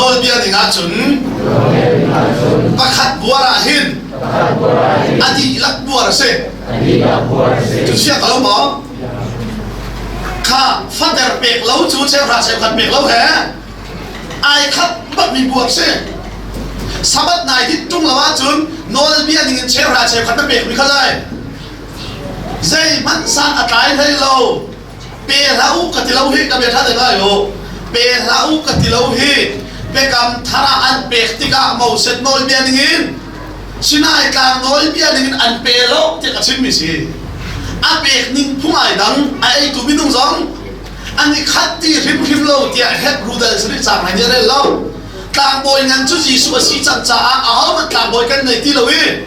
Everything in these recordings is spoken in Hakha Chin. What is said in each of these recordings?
Nawlbia ding ahcun pakhat buar ah hin a dihlak buar a si. Cucia ka lo maw? Kha fater pek lo cu cheuhra cheukhat pek lo he ai khat bakmi buar si. Sabbath nai dit tung lo ahcun nawlbia ning in cheuhra cheukhat na pekmi kha lai. Zeihmanh san a tlai hlei lo. pe hlah u ka ti lo hi ka bia ṭha ngai o pe hlah u ka ti lo hi biakam thar ah an pek tikah moset nawlbia ningin sinai tlang nawlbia ningin an pe lo tiah ka chimmi si a pek ning phung ai dang a eitu minung zong an i khat ti hrimhrim lo tiah hebrew dal sari cang an i rel lo tlangbawi ngan cu jesuh a si cang caah ahohmanh tlangbawi kan nei ti lo i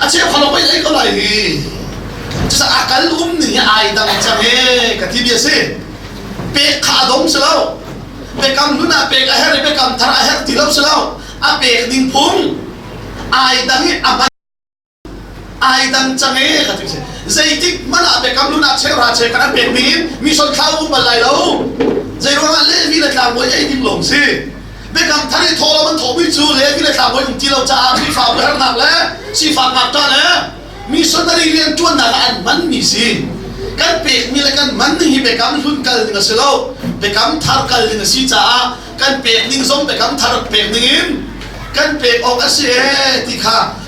a cheu kha lo pei ei ko lai hi cucaah a kal umning hi ai dang cang e ka ti bia si pek kha a dom si lo pekam hlun ah pek a herh i pekam thar a herh ti lo si lo a pek ding phung ai dang i a man ai dang cang e ka ti si zeitik man ah pekam hlun ah cheu ra che kan a pek ning in mi sol kha um bal lai lo zei ruangah lehvi le tlangbawi ei ding lawng si Biakam thar i thawlam an thawhmi cu Levi le tlangbawi um ti lo caah Khrihfabu hernak le sifak ngakṭah le missionary rian ṭuannak ah an manmi si. Kan pekmi le kan man ning hi Biakam hlun kal ding a si lo. Biakam thar kal ding a si caah kan pek ning zong Biakam thar pek ning in kan pek awk a si ee ti kha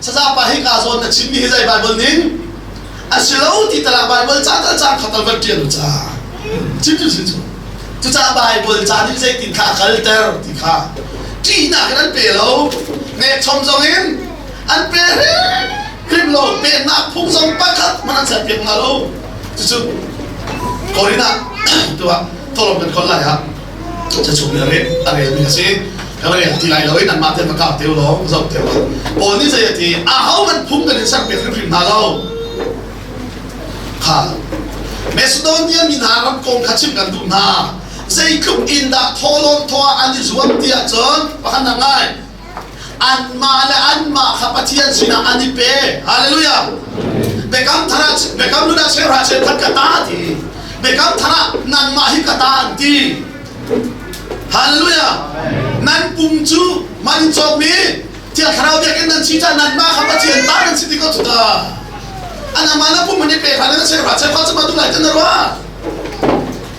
Sazapa hi kaa zawn na chimmi hi zei Baibal ning a si lo ti talak Baibal ca tal ca kha tal van ṭial u ca. Chim cu chim cu. Cucaah Baibal ca nih zeitin kha a kalter ti kha ṭihnak in an pe lo. Ngekchom zong in an pe hrim lo. Pennak phung zong pakhat hmanh an serpiak hna lo. Cucu Korin ah tu ah thawlawm kan khon lai ah Cachung hi a relmi a si. Ka rel ti lai lo i nanmah te pakap te lawng zoh te u. Paul nih zei a ti? A hohmanh phung kan in sermi hrimhrim hna lo. Kha Macedonia mi hna ram kong kha chim kan duh hna. Zeitluk in dah thawhlawn thawh ah an i zuam ti ahcun pakhat ngai Anmah le anmah kha Pathian sinah an i pe. Hallelujah! Biakam thar ah Biakam nun ah serha se that ka ta ti. Biakam thar ah nangmah hi ka ta an ti. Hallelujah! Nan pum cu man cawkmi thil thlarau biakinn nan si cah nanmah kha Pathian ta nan si ti ko tu ta. Anamah na pum an i pe hran na serha se fa cu ma tu lai tan na ruah.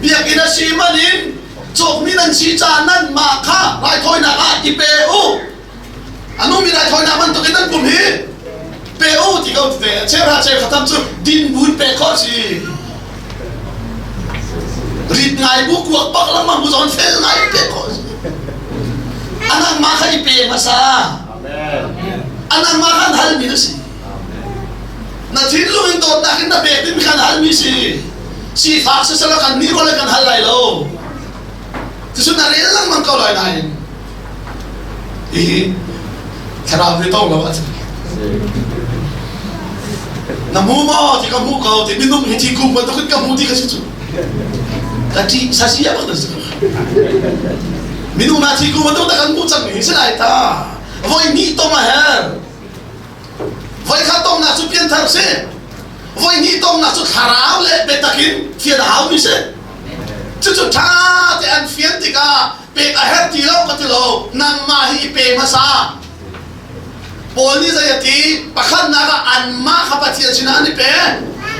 Biakinn a si man in cawkmi nan si caan nan mah kha raithawinak ah ti pe u. Anumi raithawinak bantuk in nan kum hi pe u ti ko ve. Cheuhra cheu khatam cu din bun pe kho si. Rit ngai bu kuak pak langmang bu zon fel ngai pe kho si. Anang ma kha i pe hmasa. Anang ma khan hal mi na si. Na thinlung in dawtnak in na pek ding kan halmi si. Sifak sisara kan nih role kan hal lai lo. Tisun na rel lang mang ko lai nain. Hihi, thlarau ve tong lo ah cun. Na mu mo ti ka mu ko ti minum hi ti ku ba to ka mu ti ka si chu. Ka ti sa si apa ta si. Minum ma ti ku ba to ta kan mu chang ni si lai ta. Voi ni to ma her. Voikhat tonnak cu pianthar a si. Voihnih tonnak cu thlarau le biatak in thian a haumi si. Cucu ṭha te an fian tikah pek a herh ti lo ka ti lo. Nangmah hi i pe hmasa. Paul nih zei a ti? Pakhatnak ah anmah kha Pathian sinah an i pe.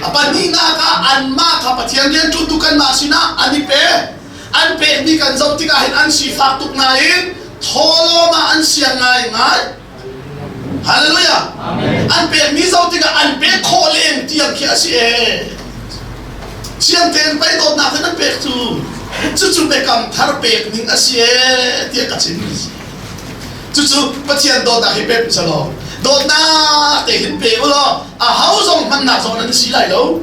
A pahnihnak ah anmah kha Pathian rian ṭutu kanmah sinah an i pe. An pek ni kan zoh tikah hin an sifak tuk nain tholawm ah an siang ngaingai. Hallelujah! An pekmi zong tikah an pek khawh len tiang khi a si ee. Chiang tein pei dawtnak in an pek cu. Cucu biakam thar pek ning a si ee tiah ka chim. Cucu Pathian dawtnak hi pe usa law dawtnak te hin pe u law a ho zong hmannak zong an si lai lo.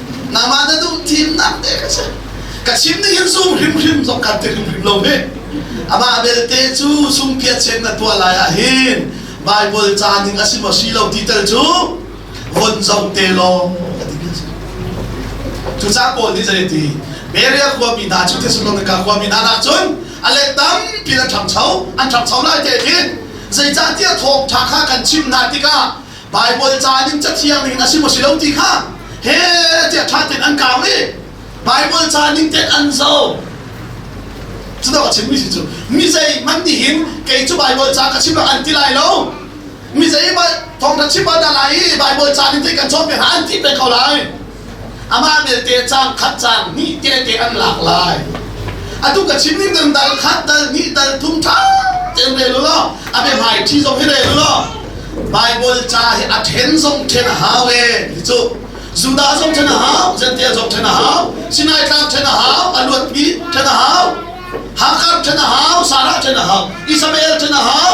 Nangmah na duh thimnak te ka si. Ka chim nih hin sung hrimhrim zong kan ti hrimhrim lo hi. Amah belte cu sungpiat sen na tuah lai ah hin Bible ca ning a si maw si lo ti tal cu von zoh te law ka ti a si. Cuca pawl nih zeiti Beria khuami hna cu Thessalonica khuami hna rak cun a let tampi an ṭhangcho an ṭhangcho lai te hin zeicahtiah thawngṭha kha kan chimh hna tikah Baibal ca ning cathiang ning a si maw si lo ti kha he tiah ṭha tein an kaang i Baibal ca ning tein an zo cudawk a chimmi si cu mi zeihmanh nihin kei cu Baibal ca ka chim rak an ti lai lo mi zeihmanh thawngṭha chim an dah lai i Baibal ca ning tein kan cawn peng hlah an ti peng ko lai Amah belte cang khat cang hnih tete an lak lai. Atu ka chim ning dang dal khat dal hnih dal thum ṭha tein rel law a bia hmai ṭhi zong hi rel law Bible ca hi a ṭhen zong ṭhen a hau e ti cu Judah zong ṭhen a hau Gentile zong ṭhen a hau Sinai tlang ṭhen a hau a luatpi ṭhen a hau Hakar ṭhen a hau Sarah ṭhen a hau Isabel ṭhen a hau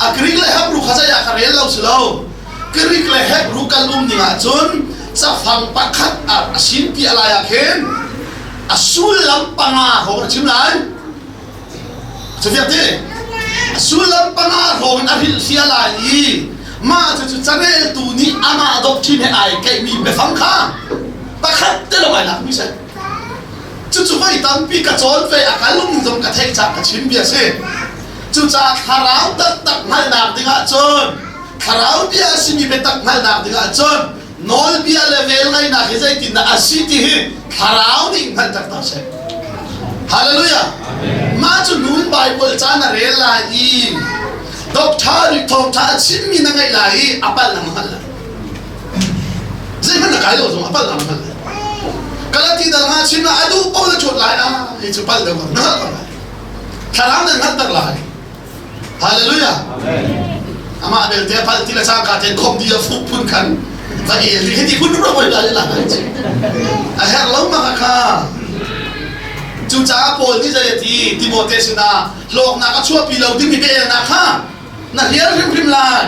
a Greek le Hebrew kha zeiah ka rel lo si lo Greek le Hebrew kan um ding ahcun cafang pakhat a sin ti a lai ah khin a sullam panga hrawng a chim lai cufiak ti a sullam panga hrawng in a rilhria lai i mah cu careltu nih amah doctrine he ai keihmi biafang kha pakhat te lawng ai lakmi si cucu voi tampi ka cawn ve a ka lung zong ka theih cak ka chim bia si Cucaah thlarau taktak hngalhnak dingah cun thlarau bia a simi biatak hngalhnak dingah cun nawlbia le velngeihnak hi zeitindah a si ti hi thlarau nih hngalh taktak a si. Hallelujah! Mah cu nu in Baibal caan a rel lai i doctor nih thawngṭha a chimmi na ngaih lai i a palh ang hngal lai. Zeihmanh na kai lo zong a palh ang hngal lai. Galati dal nga chim na a duh pawl na ṭhuat lai a hi cu palh deuh na hngalh lo lai. thlarau nan hngalhter lai hallelujah amah belte phal ti le sang ka ten khom di a fup phun khan ta ke li heti phun ro boi lai la a her lo ma kha cu caah Paul nih zei ti Timote sinah lawknak a chuahpi lo dimi ka elnak kha na hliar hrimhrim lai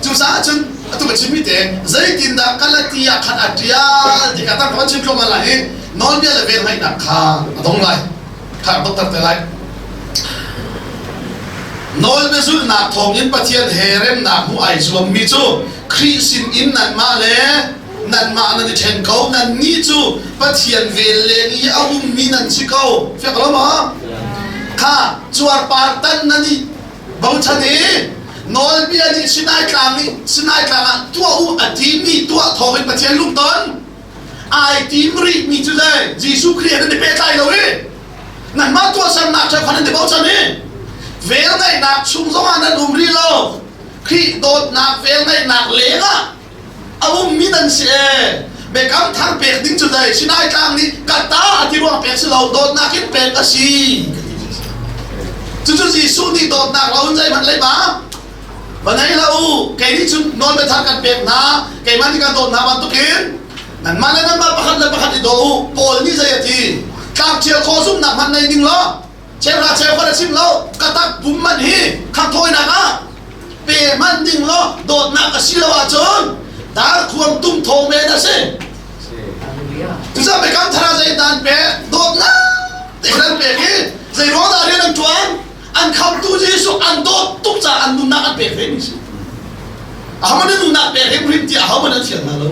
Cucaah cun atu ka chimmi te zeitindah Galatia khan a ṭial ti kha tar ka van chim thluahmah lai i nawlbia le velngeihnak kha a dong lai kha ka tonter te lai. Nawlbia zulhnak thawngin Pathian he remnak hmuh ai zuammi cu Khrih sin in nanmah le nanmah nan i ṭhen ko. Nannih cu Pathian vel leng i a ummi nan si ko. Fiak lo maw? Kha cuarpar tal nan i Bochan i nawlbia nih Sinai tlang nih Sinai tlang ah tuah u a timi tuah thawng in Pathian lungton ai tim rihmi cu zei Jesuh Khrih he nan i pehtlai lo i nan mah tuahsernak cu khan an i bochan i velngeihnak chung zongah nan um rih lo Khrih dawtnak velngeihnak lengah a ummi dan si ee mekam thar pek ding cu dai sinai tlang nih ka ta a ti ruang pek si lo dawtnak in pek a si cucu Jesuh nih dawtnak la hun zeihmanh lei ba va nei la u kei nih cun nawl le thar kan pek hna keimah nih kan dawt hna bantukin nanmah le nanmah pakhat le pakhat i daw u Paul nih zei a ti tlak ṭhial khaw zumnak hmanh nei ding law Ceuhra ceu kan a chim lo. Katak bum man hi khangthawinak ah pe man ding law dawtnak a si lo ahcun dar khuang tung tho men a si. Tuchan me kam thara zei dan pe dawtnak te kan pe hi zei ro da rian an tuan an khamtu Jesuh an dawt tuk ca an nunnak an pek ring si. A hamani nunnak pek rim rim ti a haman an thiam na lo.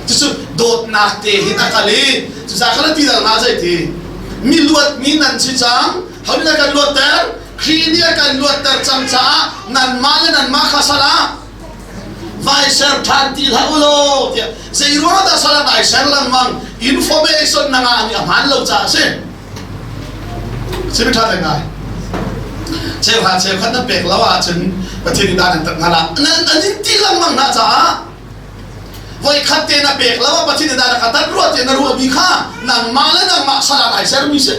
Cucu dawtnak te hi a kal i cucaah kal ti dal hna zei ti mi luatmi nan si cang hauin a kan luatter Khrih nih a kan luatter cang caah nanmah le nanmah kha sal ah vai ser ṭhan ti hlah u law tiah zeiruang dah sal ah ai ser lengmang information na ngah mi a hmaan lo caah a si simi ṭha ve ngai cheuha cheukhat nan pek lo ahcun Pathian i dan an tat hna lah nan an in ti lengmang hna caah Voikhat te na pek lawa pathin da ka tat ruat te na ruah mi kha nangmah le nangmah salah ai ser mi si.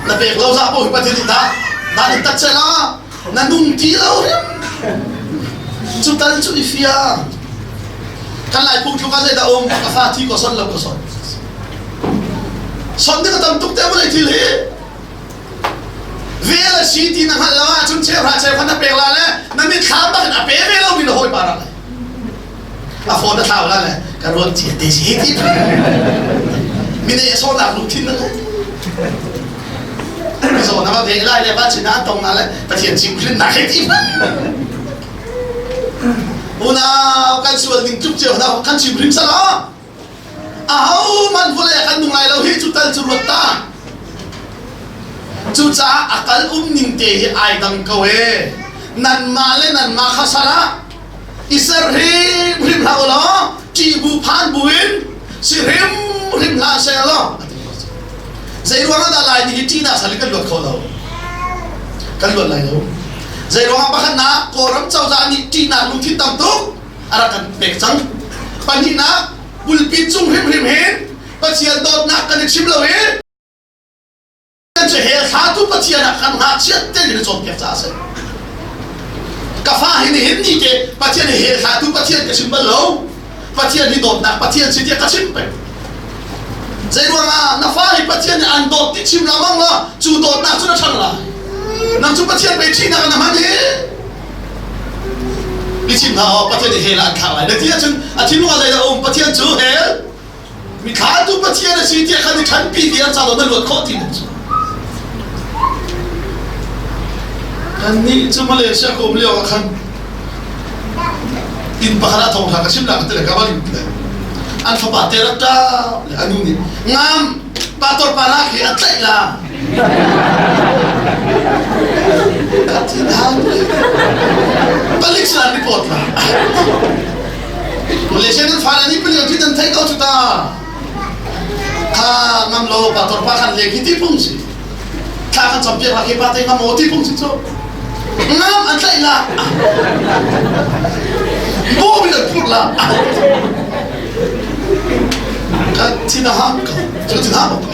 Na pek lo za bo pathin da dan in tat sela na nung ti lo riam. Cu tal cu i fia. Kan lai pu tluka zai da om ka fa thi ko son lo ko son. Son de ka tam tuk te bolai thil hi. Rel a si ti na hngalh lo ahcun cheuhra cheuhkhat na pek la le na mitthla bak in a pe ve lomi na hawipa ra le a phone na thlau la le ka ruang ci te si ti mine a sawnak lu thin na le zawn na ve lai le ba chin na tong na le pathian chim khin na ke ti unau kan sual ning tluk ceu na kan chim rim sala Ahohmanh vawlei ah kan nung lai lo hi cu tal cu ruat ta. Cucaah a kal um ning te hi ai dang ko e. Nanmah le nanmah kha sar ah i ser hrimhrim hlah u law ṭihbu phan buin si hrimhrim hlah seh law a ti ko. Zei ruangah dah lai ni hi ṭihnak sal in kan luat kho lo? Kan luat lai lo. Zei ruangah pakhatnak Kawlram cozah nih ṭihnak lungthin tam tuk a rak kan pek cang pahnihnak bulpi cung hrimhrim hi Pathian dawtnak kan i chim lo i kan cu he thlatu Pathian ah kan ngakchiat te ni cawnpiak ca a si ka fa hi nihin ni ke Pathian hi he thlatu Pathian ka chim bal lo Pathian hi dawtnak Pathian si tiah ka chim peng zei ruang ah na fa hi Pathian nih an dawt ti chim la mang la cu dawtnak cu na ṭhang la nang cu Pathian bei ṭihnak na hman i Ka chim hna aw, Pathian nih hell ah an thlah lai. Na ti ahcun a thinlung ah zeidah a um? Pathian cu hell, mi thlah cu Pathian a si tiah khan i ṭhanpi ti an ca lo na luat khawh ti na cu. Kannih cu Malaysia ka um lio ah khan inn pakhat ah thawngṭha ka chim nak tele ka va lim tele an fapa te rak ṭap le a nu nih ngam pator pa nak hi a tlaih la Palik salam report la. Malaysia nan fara ni pali ti dan thai to chuta. Kha ngam lo pa tor pa kan le ki ti pung si. Tha kan cham piak la ke pa tai ngam o ti pung si so. Ngam an tlai la. Bo bi da phur la. Ka tina ha ka. Ka tina ha ka.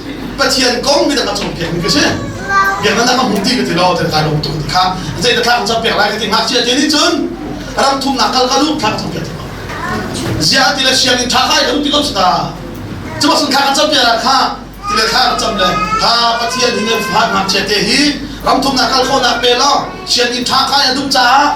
Pathian kong midang a cung pekmi ka si biaknak a hmuh ti ka ti lo kan lung tuk ti kha zei ta thlak can pek lai ka ti ngakchia ti nih cun ram thumnak kal ka lu thlak can pek ti ko ziah ti le sianginn tha kai ka lu ti ko ta cuba sun kha kan cam piara kha ti le kha cam le ha pathian hi ne fuhat ngakchia te hi ram thumnak kal ko na pe lo sianginn tha kai a dup caah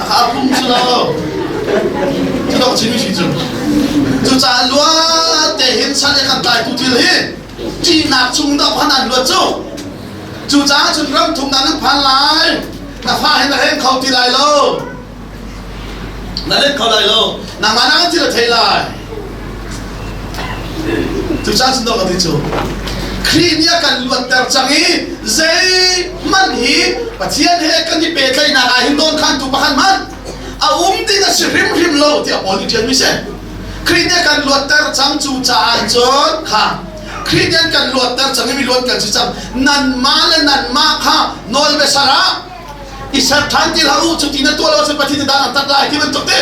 a pum cu lo cu dok chim shi cu cu ca luat te hin chan e kan tai tu thil hi ṭihnak chung dok han an luat cu cu caah cun ram thum dan an phan lai na fa hin na heng kho ti lai lo na let kho lai lo nangmah na thil a thei lai Cucaah sinawk a ti cu Khrih nih a kan luatter cang i zeihmanh hi Pathian he kan i pehtlaihnak ah hin nawn khantu pakhat hmanh a um ding a si hrimhrim lo tiah Paul nih ṭialmi si Khrih nih a kan luatter cang cu caah cun kha Khrih nih an kan luatter cang i mi luat kan si cang nanmah le nanmah kha nawl biasar ah i ser ṭhan ti hlah u cu ti na tuah lo cun Pathian dan an tat lai ti bantuk te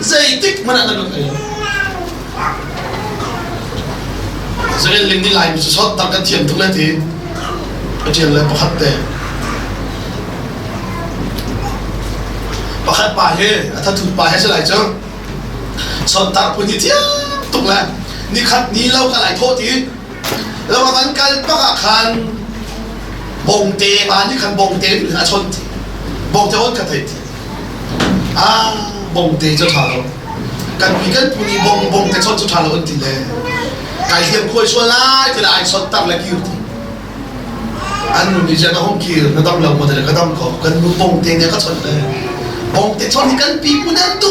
Zeitik hmanh ah na kan ei. Zei ling ni lai cu sot tak kan thian tuk le ti. Pathian le pakhat te. Pakhat pa he, a thathut pa he se lai cu. Sot tak pun ti thiang tuk le. Ni khat ni lo ka lai thaw ti. Ram an kal bak ah khan bongte pa nih khan bongte in a chon ti bongte on kha thei ti ah bongte cu tha lo kan pi kan pu nih bong bongte chon cu tha lo an ti le kai thiam khuai sual lai ti ai chot tak le kir ti an nu nih jana hong kir na dam lo ma te ka dam ko kan nu bongte ne ka chon le bongte chon hi kan pi pu ne tu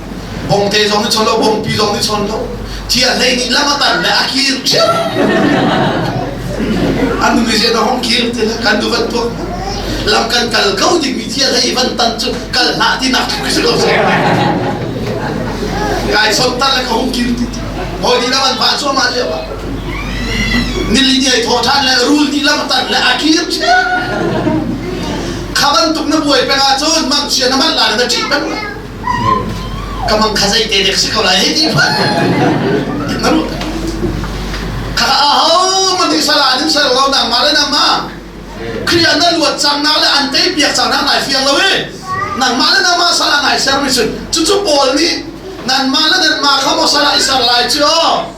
bongte zong nih chon lo bongpi zong nih chon lo cia hlei nih lam a tan le a kir cio an nu nih na hong kir ti kan du van tuak lam kan kal ko dingmi cia hlei van tan cu kal hna ti nak tuk si lo se kai son tan le ka hong kir ti hoi di lam an fa chuah ma cia ba nili ni ai tho than le rul ni lam tan le a kir cio khaban tuk na buai penga cun mang sia na man la na chi peng ka mang kha zei te dek si ko lai hei ti fa maru kha a ho man ti sala an ser lo dang ma le nang ma kriya na luat chang na le an tei piak chang na ngai fial lo e nang ma le nang ma sala ngai ser mi sun chu chu paul nih nan ma le nan ma kha mo sala i ser lai chi o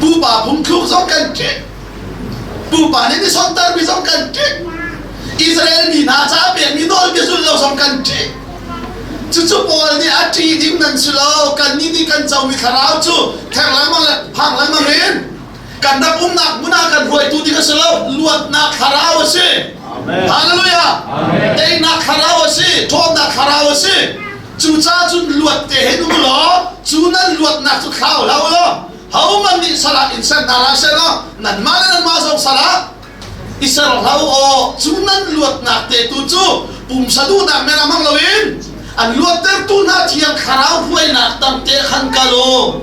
Pupa phungthluk zong kan ṭih. Pupa nih misontermi zong kan ṭih. Israel mi hna ca pekmi nawlbia zulh lo zong kan ṭih. Cucu Paul nih a ṭih ding nan si lo. Kannih nih kan comi thlarau cu thek lengmang le phang lengmang in kan ram umnak hmun ah kan hruaitu ding a si lo. Luatnak thlarau a si. Hallelujah. Teinak thlarau a si. Ṭhawnnak thlarau a si. Cucaah cun luat te hin u law cu nan luatnak cu thlau hlah u law homan nih salah in sen hna hlah selaw nanmah le nanmah zong salah i ser hlah u cu nan luatnak te tu cu pumsa duhnak men a hmang loin an luattertu hna thiang thlarau hruainak tang te khan kal u